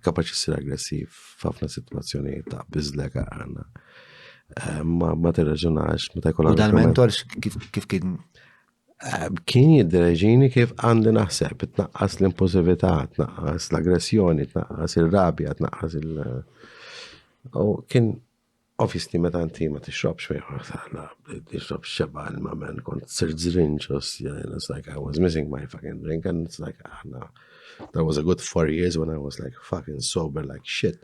Kapaċi ssir aggressiv f'ħafna sitwazzjonijiet ta' biżlek għandna. Eh, ma ma tirraġunax meta jkun għandek. Dan mentor kif kien eh, kien jiddereġini kif għandi naħseb, tnaqqas l-impulsività, tnaqqas l-aggressjoni, tnaqqas il-rabja, tnaqqas il- U kien Obviously meta inti ma tixrobx fejn ħana, tixrob xeba ilma men, kont sir zrinġ, osja, and it's like I was missing my fucking drink and it's like ħana. That was a good four years when I was like fucking sober like shit.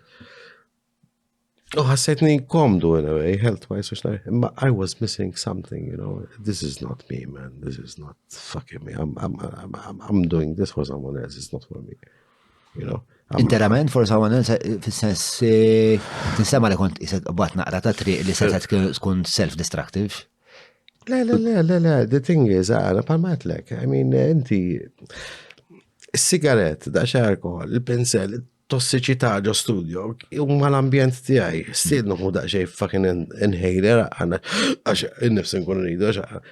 U ħassejtni komdu in a way, health wise, u xnaj, imma I was missing something, you know, this is not me man, this is not fucking me, I'm, I'm, I'm, I'm doing this for someone else, it's not for me. Interament, forse għawan fil-sens eh, tinsema li kont jisek bat naqra ta' triq li se tkun self-destructive. Le, le, le, le, le, the thing is, għana ah, palmatlek, I mean, inti, s-sigaret, da xe alkohol, il-pinsel, tossiċità ġo studio, huma l-ambjent tiegħi, stidnu hu daqsxejn fucking inhaler għana għax innifs nkun rridu għax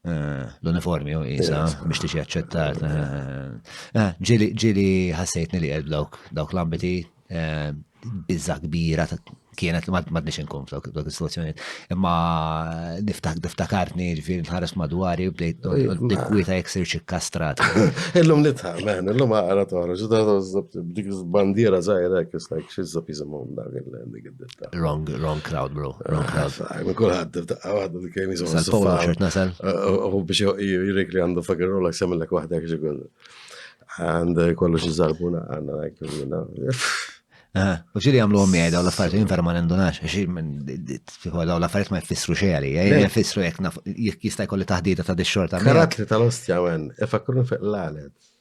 Eh, l-uniformi u jisa biex tixi għacċettar. Eh, eh, ġili, ġili ħassejtni li għed dawk, dawk l-ambiti bizza kbira kienet li mad nix nkun f'dawk dawk il-situazzjoni. Imma niftak niftakartni ġifir nħares madwari bdejt dikkwita jek sirx ikkastrat. Illum nitħa, man, illum għara toħroġ, dik bandiera zaħira, kis like, xizza pizza mom dak il-dik Wrong, wrong crowd, bro. Wrong crowd. Ma kullħat, għadda li kemi zon. Sal polo ċert nasal. U biex jirrik li għandu fakir rola semmelek wahda kħiġi għandu. Għand kollu xizzarbuna għanna għajk minna. U xili għamlu għom jgħida u l-affariet jien vera ma nindunax, fiħu daw l-affariet ma jfissru xie għalli, jfissru jek jista jkolli taħdita ta' dix-xorta. Karatli tal-ostja għen, ifakkurni fiq l-għalet.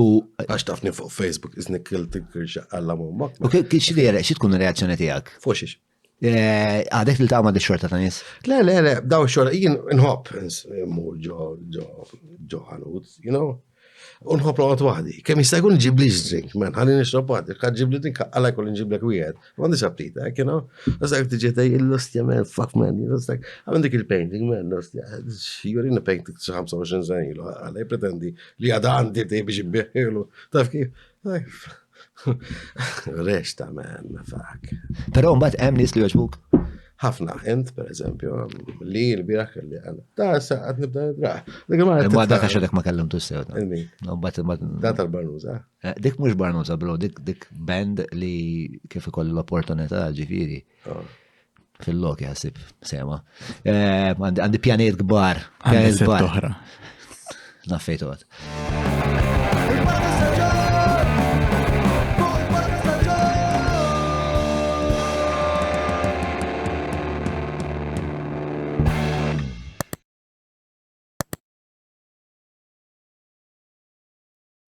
U għax tafni fuq Facebook, iznik il-tikirxa għalla mumma. U kiex li xie tkun reazzjoni tijak? Fuxiex. Eh, għadek li taqma di xorta ta' nis? Le, le, le, daw xorta, jien nħob, mur ġo, ġo, ġo ħanut, you know? Unħob l-għot wahdi, kem jistajkun ġibli ġdrink, men, għalli nixrob għad, ġibli dink, għalla jkun ġiblek wieħed. Għandix aptita, eh, kena, għazak tiġi taj il-lustja men, fuck man, għazak, għamil dik il-painting men, lustja, jurina painting 25 sen ilu, għalaj pretendi li għada għandi tej biex ibbieħilu, taf kif, Resta men, fuck. Pero mbagħad hemm nies li joġbuk. Ħafna, int per eżempju, li l-biraħ kelli għana. Ta' sa' għad nibda nidra. Ma da' kaxedek ma kellim tu sew. Da' tal-barnuza. Eh, dik mhux barnuża bro, dik dik band li kif ikolli l-opportunità ġifieri. Ah. Fil-lok jaħsib sema. Eh, għandi pjaniet kbar. Pjaniet kbar. Naffejt għod.